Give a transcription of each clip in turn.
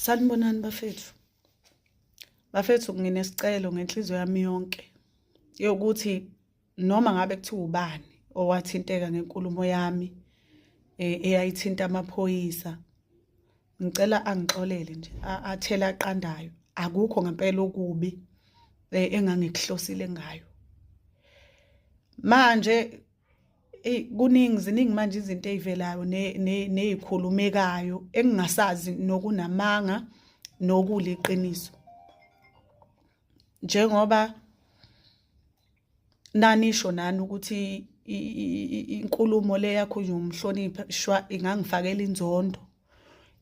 Sanibonani bafethu. Bafethu nginesicelo ngenhliziyo yami yonke yokuthi noma ngabe kuthiwa ubani owathinteka ngenkulumo yami e, eyayithinta amaphoyisa ngicela angixolele nje athela aqandayo akukho ngempela okubi e, engangikuhlosile ngayo manje eyi kuningi ziningi manje izinto ey'velayo ney'khulumekayo engingasazi nokunamanga nokuliqiniso njengoba nanisho nani ukuthi inkulumo le yakho umhlonipha shwa ingangifakela inzondo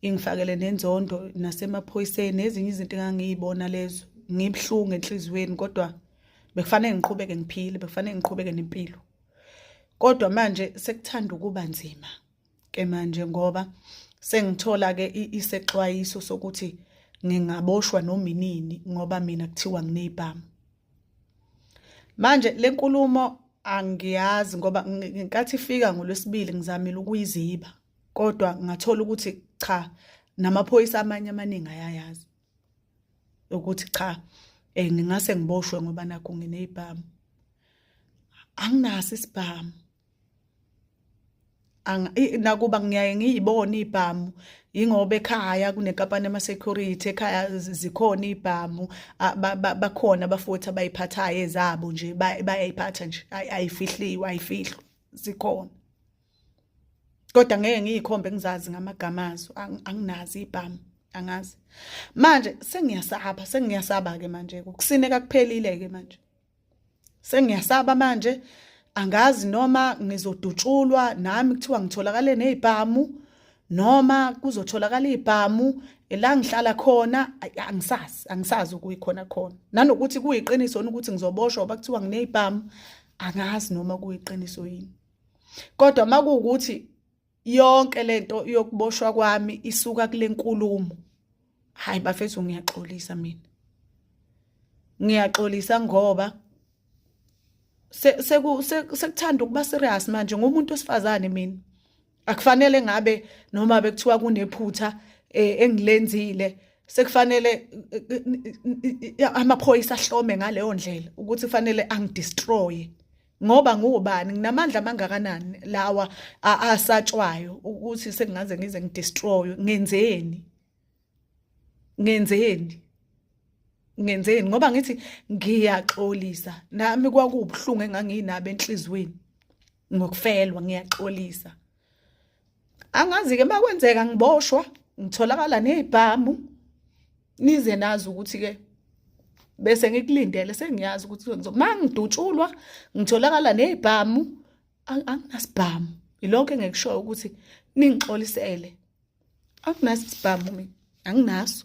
ingifakele nenzondo nasemaphoyiseni nezinye izinto engangiyibona lezo ngibuhlungu enhliziyweni kodwa bekufanele ngiqhubeke ngiphile bekufanele ngiqhubeke nempilo kodwa manje sekuthanda ukuba nzima ke manje ngoba sengithola ke isexwayiso sokuthi ngingaboshwa noma inini ngoba mina kuthiwa nginezibhamu manje lenkulumo angiyazi ngoba ngenkathi ifika ngolwesibili ngizamile ukuyiziba kodwa ngathola ukuthi cha namaphoyisa amanye amaningi ayayazi ukuthi cha eh ngingase ngiboshwe ngoba nakho nginezibhamu anginaso isibhamu nakuba ngiyaye ngiyibone ibhamu yingoba ekhaya kunenkampani yama security ekhaya zikhona ibhamu bakhona abafuthi abayiphathayo ezabo nje bayayiphatha nje ayifihliwe ayifihlwa zikhona kodwa ngeke ngiyikhombe ngizazi ngamagama azo anginazi ibhamu angazi manje sengiyasaba sengiyasaba ke manje ukusineka kuphelile ke manje sengiyasaba manje angazi noma ngizodutshulwa nami kuthiwa ngitholakale nezibhamu noma kuzotholakala izibhamu la ngihlala khona angisazi angisazi ukuyikhona khona nanokuthi kuyiqiniso ukuthi ngizoboshwa bakuthiwa nginezibhamu angazi noma kuyiqiniso yini kodwa makuwukuthi yonke lento yokuboshwa kwami isuka kule nkulumo hayi bafethu ngiyaxolisa mina ngiyaxolisa ngoba sekuthanda ukuba serious manje ngumuntu osifazane mina akufanele ngabe noma bekuthiwa kunephutha eh, engilenzile sekufanele eh, eh, amaphoyisa ahlome ngaleyo ndlela ukuthi kufanele angidestroye ngoba ngubani nginamandla amangakanani lawa asatshwayo ukuthi sengingaze ngize ngidestroy ngenzeni ngenzeni ngenzeni ngoba ngithi ngiyaxolisa nami kwakubuhlungu enganginabo enhlizweni ngokufelwa ngiyaxolisa angazi ke makwenzeka ngiboshwa ngitholakala nezibhamu nize nazi ukuthi ke bese ngikulindele sengiyazi ukuthi kwenziwa uma ngidutshulwa ngitholakala nezibhamu anginasibhamu yilokho engikushoyo ukuthi ningixolisele anginasibhamu mina anginaso